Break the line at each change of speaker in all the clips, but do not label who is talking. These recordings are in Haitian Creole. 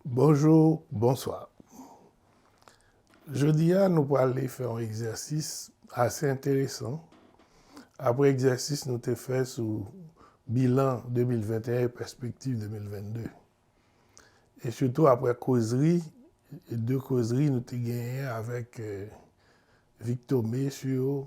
Bonjou, bonswa. Jodi a nou prale fè yon egzèsis ase enteresan apre egzèsis nou te fè sou bilan 2021 e pèspektiv 2022. E sitou apre kozri, 2 kozri nou te genyen avèk Vic Thomé sou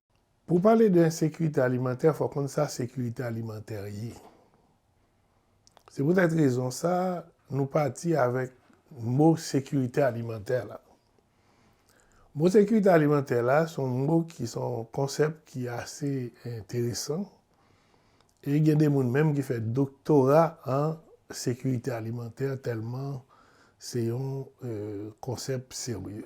Pou w pale de ensekirite alimantè, fò w konn sa sekirite alimantè ye. Se poutèt rezon sa, nou pati avèk mo sekirite alimantè la. Mo sekirite alimantè la, se yon mo ki se yon konsèp ki ase enteresan, e gen de moun menm ki fè doktora an sekirite alimantè tèlman se yon konsèp serye.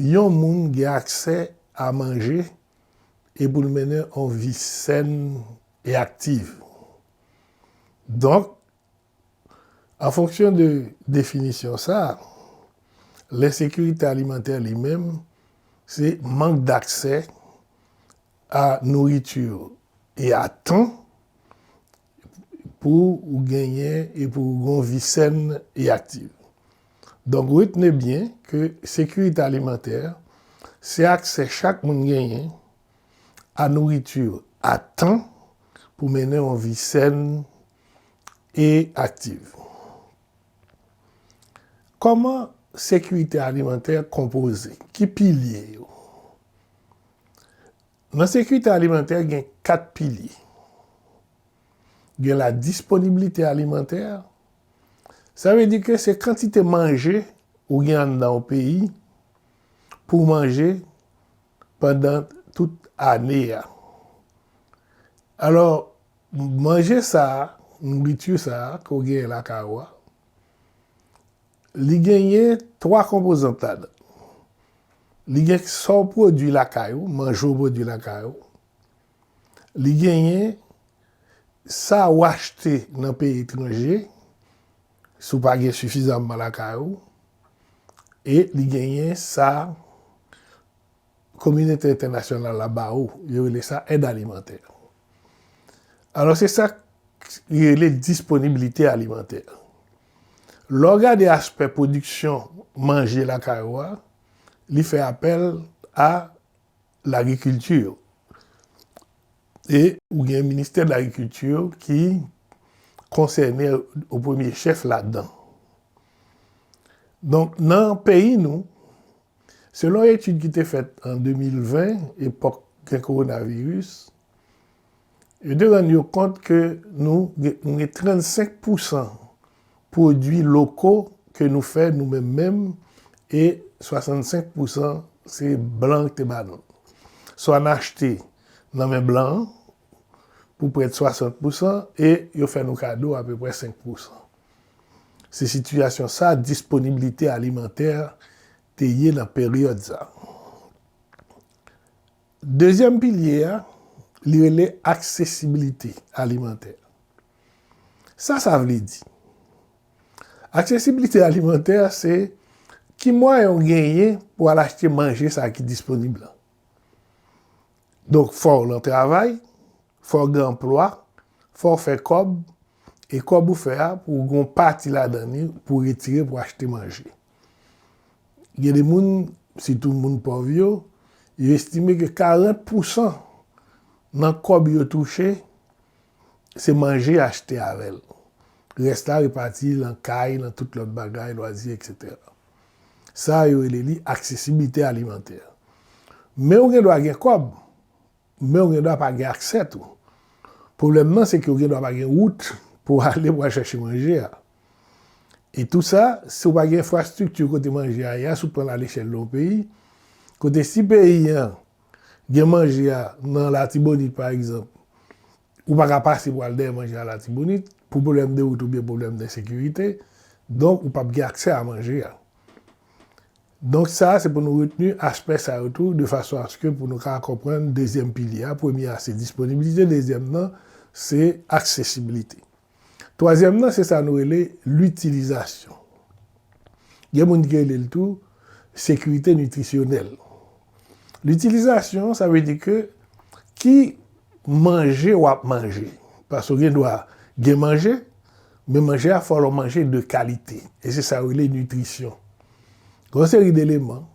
Yon moun gen aksè a manje e pou l mennen yon vi sèn e aktiv. Donk, an fonksyon de definisyon sa, lensekirite alimantè li menm se mank daksè a nouriti e a tan pou ou genyen e pou ou gen yon vi sèn e aktiv. Donk retne byen ke sekirite alimantè se aksè chak moun genyen a nouriti a tan pou mennen yon vi sèn e aktiv. Kòman sekirite alimantè konpoze? Ki pilye yo? Nan sekirite alimantè gen 4 pilye. Gen la disponibilite alimantè, sa vle di ke se kantite manje ou gen anndan yon peyi pou manje pandan tout ane a. Alò, manje sa, nouritu sa ke w gen lakay ou a, Li genyen 3 konpozant ladan. Li gen sa w pwodui lakay ou, manje w pwodui lakay ou. Li genyen sa ou achte nan peyi etranje, si w pa gen sifizamman lakay ou. E li genyen sa. kominote entènasyonal la ba ou, yo rele sa èd alimantè. Alò se sa yo rele disponibilite alimantè. Lè w gade aspè pwodiksyon manje lakay ou a, li fè apèl a lagrikilti. E ou gen ministè de lagrikilti ki konsène o premye chèf ladan. Donk nan peyi nou, Selon etid ki te fèt an 2020, epòk gen kowonaviris, yo te rann yo kont ke nou nou gen 35 pousan pwodui loko ke nou fè nou menm menm e 65 pousan se blan ki te ba nou. Swa n achte nan men blan an pou prèt 60 pousan e yo fè nou kado apeprè 5 pousan. Se sitiyasyon sa disponiblite alimantè te ye nan peryòd sa. Dezyèm pilye a, li rele aksesibilite alimantè. Sa sa vle di? Aksesibilite alimantè se ki mwayen ou genyen pou al achte manje sa ki disponib la. Donk fò w nan travay, fò w gen anplwa, fò w fè kòb, e kòb ou fè a pou w gen yon pati ladan li pou w retire pou w achte manje. Gen de moun, sitou moun pòv yo, yo estime ke 40 pousan nan kòb yo touche, se manje yo achte avè l. Rès la repati lan kay, lan tout lòt bagay, lwazi, eksetera. Sa yo rele li aksesibilite alimantè. Men ou gen dwa gen kòb, men ou gen dwa pa gen aksè tou. Pwoblèm nan se ke ou gen dwa pa gen wout pou ale pou al chache manje a. E tout sa, si ou pa gen enfrastrikti kote manje a ye a, si ou pran l alechèl yon peyi, kote si peyi an gen manje a nan Latibonit pa egzanp, Ou pa ka pase pou al dèyè manje a Latibonit, pou pwoblèm de wout oubyen pwoblèm de sekirite, donk ou pap gen aksè a manje a. Donk sa a se pou nou retni aspè sa yo tou de fason aske pou nou ka konprann dezyèm pilye a, premye a se disponibilite, dezyèm nan se aksesibilite. Twazyèm nan se sa nou rele litilizasyon. Gen moun ki rele l tou sekirite nitrisyonèl. Litilizasyon sa vle di ke ki manje w ap manje. Paske w gen dwa gen manje, men manje a fò l yon manje de kalite. E se sa yo rele nitrisyon. Gen yon seri de eleman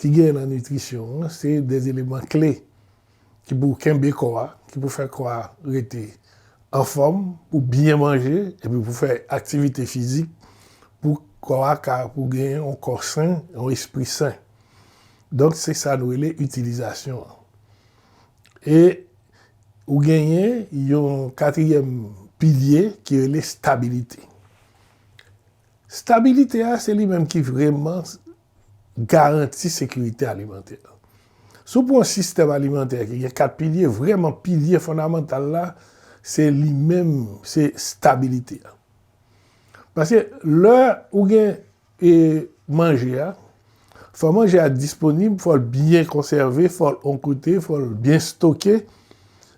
ki gen nan nitrisyon an, se de eleman kle. ki pou kenbe kò a, ki pou fè kò a rete anfòm, pou byen manje, epi pou fè aktivite fizik, pou kò a ka pou gen yon kò sen, yon espri sen. Donk se sa nou rele itilizasyon an. E ou genyen yon katriyèm pilye ki rele stabilite. Stabilite a se li menm ki vreman. garanti sekirite alimantè. Si w pran yon sistèm alimantè ki gen 4 pilye, vrèman pilye fondamantal la, se li menm, se stabilite a. Paske lè ou gen manje a, fò manje a disponib, fò l byen konsève, fò l on kote, fò l byen stoke,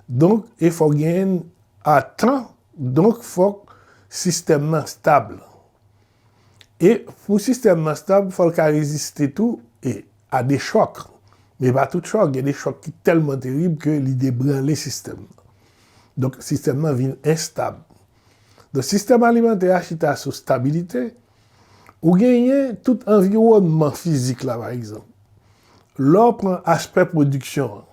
donk e fò gen a tan, donk fòk sistèm nan stab. E pou sistèm nan stab, fò l ka reziste tou e a de chòk. Men pa tout chòk, gen de chòk ki tèlman terib ke li debranle sistèm nan. Donk sistèm nan vin enstab. Donk sistèm alimantè a chita sou stabilite. Ou genyen tout anviwònman fizik la pa egzanp. Lè w pran aspè pwodiksyon an,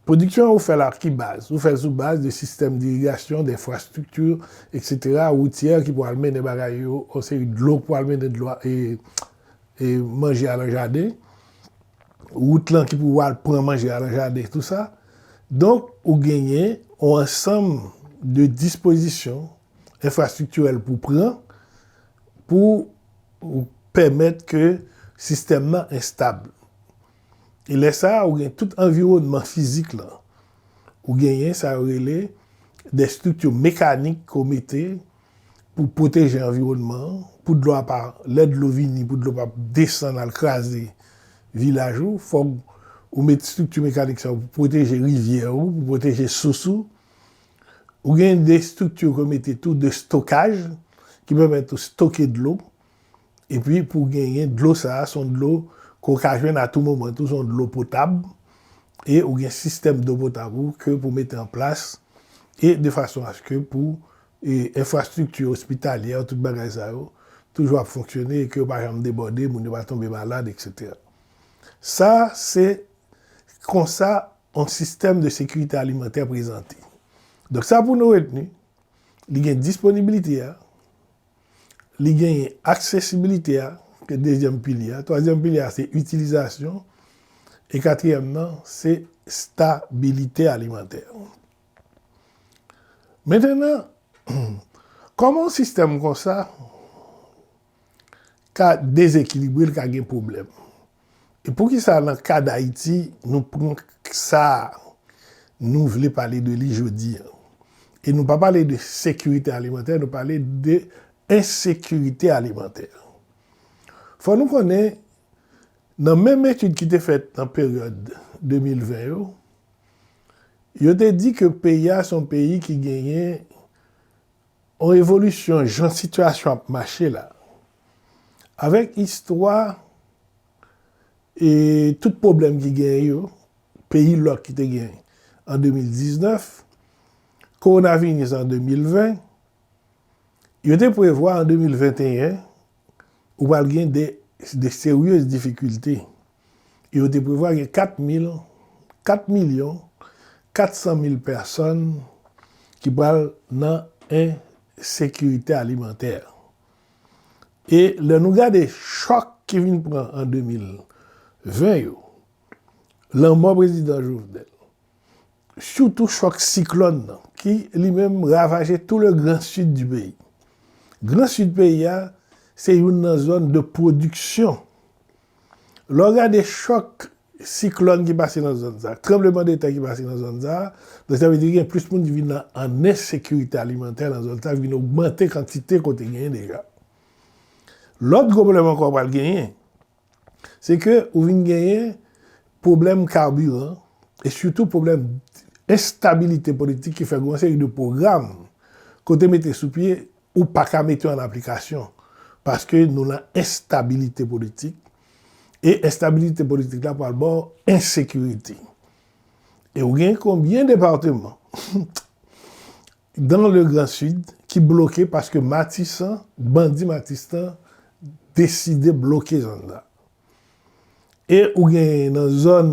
Pwodiksyon an ou fè l ak ki baz? Ou fè l sou baz de sistèm dirigasyon, denfrastrikti, etc. Woutyè ki pwal mennen bagay yo, yon seri dlo ki pwal mennen dlo e manje a lan jaden. Wout lan ki pou wal pran manje a lan jaden, tout sa. Donk, ou genyen yon ansanm de dispozisyon enfrastriktirèl pou pran pou pèmèt ke sistèm nan estab. E lè sa a ou gen tout anviwònman fizik lan. Ou genyen sa yo rele de estrikti mekanik ke w mete pou pwoteje anviwònman an, pou dlo a pa, lè dlo vini pou dlo pa desann al kraze vilaj ou. Fòk ou met estrikti mekanik sa yo pou pwoteje rivyè ou, pou pwoteje sous ou. Ou gen de estrikti ke w mete tou de stokaj ki pèmèt ou stoke dlo. Epi pou genyen dlo sa a, se yon dlo ke w ka jwenn a tou moman tou, se yon dlo potab, e ou gen sistèm dlo potab ou ke pou mete an plas, e de fason aske pou enfrastrikti ospitalyè yo, tout bagay sa yo, toujou ap fonksyone e ke yo pa janm debòde, moun yo pa tonbe malad, eksetera. Sa se konsa yon sistèm de sekirite alimantè prezante. Donk sa pou nou retni, li gen disponibilite a, Li genyen aksesibilite a ke dezyèm pilye a. Twazyèm pilye a se itilizasyon. E katriyèm nan se stabilite alimantè. Mentenan, kòman yon sistèm konsa ka dezekilibre, li ka gen pwoblèm? E poukisa nan ka Dayiti nou pran sa nou vle pale de li jodi an? E nou pa pale de sekirite alimantè, nou pale de ensekirite alimantè. Fò nou konnen, nan menm etid ki te fèt nan peryòd 2020 yo, yo te di ke peyi a se yon peyi ki genyen yon evolisyon jan sitiyasyon ap mache la, Avèk istwa e tout pwoblèm ki genyen yo, peyi lòk ki te genyen an 2019, kowonaviris an 2020, yo te prevwa an 2021 ou pral gen de seryez difikilte. E yo te prevwa gen 4 mil, 4 milyon, 400 mil pèsòn ki pral nan ensekirite alimantè. E lè nou gade chòk ki vin pran an 2020 yo, lanmò prezidan Jovenel, sitou chòk siklòn nan ki li menm ravaje tou le gran sid di peyi. Gran sid peyi a se youn nan zòn de pwodiksyon. Lè w gade chòk Siklòn ki pase nan zòn sa, tranbleman de tè ki pase nan zòn sa, donk sa vle di gen plis moun ki vin nan an ensekirite alimantè nan zòn sa ki vin ogmante kantite kote genyen deja. Lòt gwo pwoblèm ankò ou pral genyen, se ke ou vin genyen pwoblèm kabiran e sitou pwoblèm enstabilite politik ki fè gen yon seri de pwogram ke w te mete sou pye ou pa ka mete yo an aplikasyon paske nou nan enstabilite politik E enstabilite politik la pral baw ensekirite. E ou gen konbyen departeman dan le gran sid ki bloke paske matisan, bandi matistan deside bloke zòn nan. E ou gen nan zòn.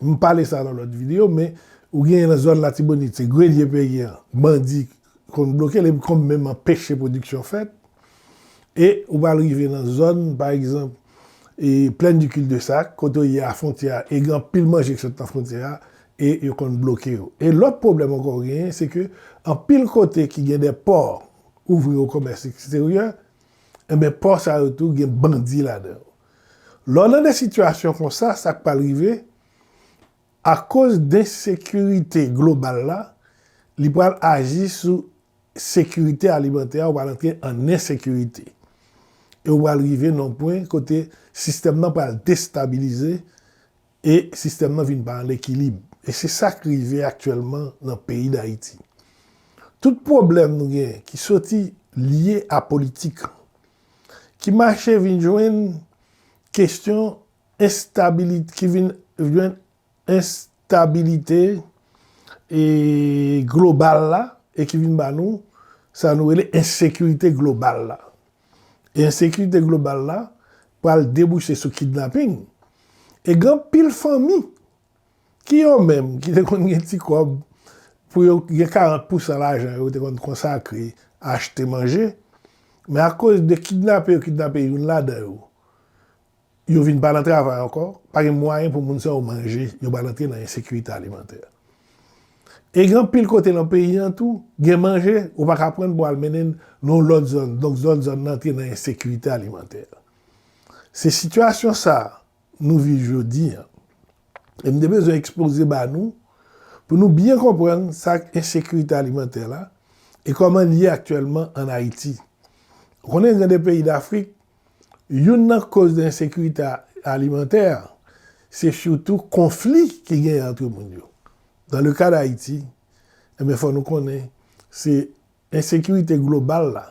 M pale sa nan lòt video men ou genyen nan zòn latibonit se grelye peyi an bandi konn bloke l epi konn menm anpeche pwodiksyon fèt e ou pral rive nan zòn pa egzanp e plaine du cul de sac kote w ye a fwontyè a e gen anpil manje ki sot nan fwontyè a e yo konn bloke yo e lòt pwoblèm ankò ou genyen se ke anpil kote ki gen de pò ouvri o komès eksteryè enben pò sa yo tou gen bandi ladan yo. Lè w nan de sitiyasyon konsa, sa k pral rive, akoz densekirite global la, li pral aji sou sekirite alimantè a, ou pral antre an ensekirite. E ou pral rive nan yon pwen kote sistèm nan pral destabilize e sistèm nan vin pa an ekilib. E se sa k rive aktyèlman nan peyi Dayiti. Tout pwoblèm nou gen ki soti lye a politik. ki mache vin jwenn kestyon enstabilite ki vin jwenn enstabilite e global la e ki vin ba nou sa nou rele ensekirite global la e ensekirite global la pral debouche sou kidnaping e gen anpil fanmi Ki yo menm ki te konn gen ti kòb pou yo gen 40 pousan lajan yo yo te konn konsakre achte manje, men akoz de kidnape yo kidnape youn ladan yo, yo vin pa nan travay ankò, pa gen mwayen pou moun sa yo manje, yo pral antre nan ensekirite alimantè. E gen anpil kote nan peyi an tou, gen manje, ou pa ka pran l pou al mennen l nan yon lòt zòn, donk zòn zòn nan antre nan ensekirite alimantè. Se sitiyasyon sa a. nou viv jodi an. E m te bezwen ekspoze ba nou pou nou byen konprann sa k ensekirite alimantè la e kòman l ye aktyèlman ann Ayiti. Ou konnen gen de peyi Dafrik, youn nan koz de ensekirite alimantè a, se sitou konfli ki genyen antre moun yo. Dans le cas d'Haïti, enben fò nou konnen se Ensekirite global la,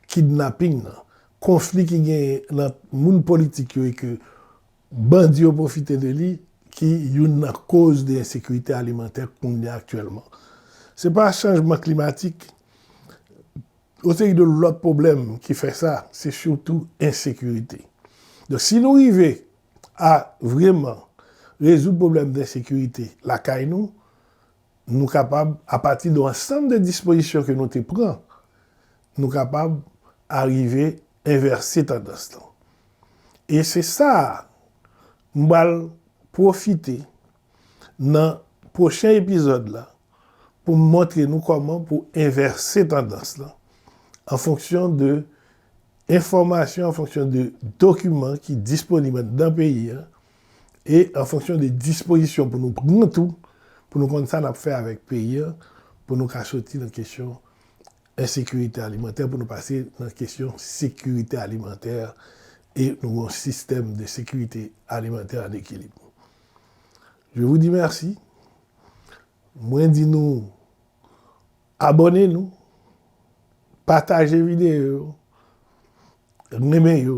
kidnaping nan, konfli ki genyen nan moun politik yo e ke bandi yo pwofite de li ki youn nan koz de ensekirite alimantè kounye a aktyèlman. Se pa chanjman klimatik, yon seri de lòt pwoblèm ki fè sa, se sitou ensekirite. Donk si nou rive a vreman rezoud pwoblèm de ensekirite lakay nou, Nou kapab, apati de ansanm de dispozisyon ke nou te pran, nou kapab arive envèse tandans lan. E se sa a m pral pwofite nan pwochen epizòd la pou m montre nou kòman pou envèse tandans lan an fonksyon de enfòmasyon, an fonksyon de dokiman ki disponib anndan peyi a, e an fonksyon de dispozisyon pou nou pran tou, pou nou konn sa n ap fè avèk peyi an, pou nou ka soti nan kesyon ensekirite alimantè, pou nou pase nan kesyon sekirite alimantè, e nou gen yon sistèm de sekirite alimantè an ekilib. Je vou di mèsi. Mwen di nou abòne nou, pataje videyo yo, renmen yo.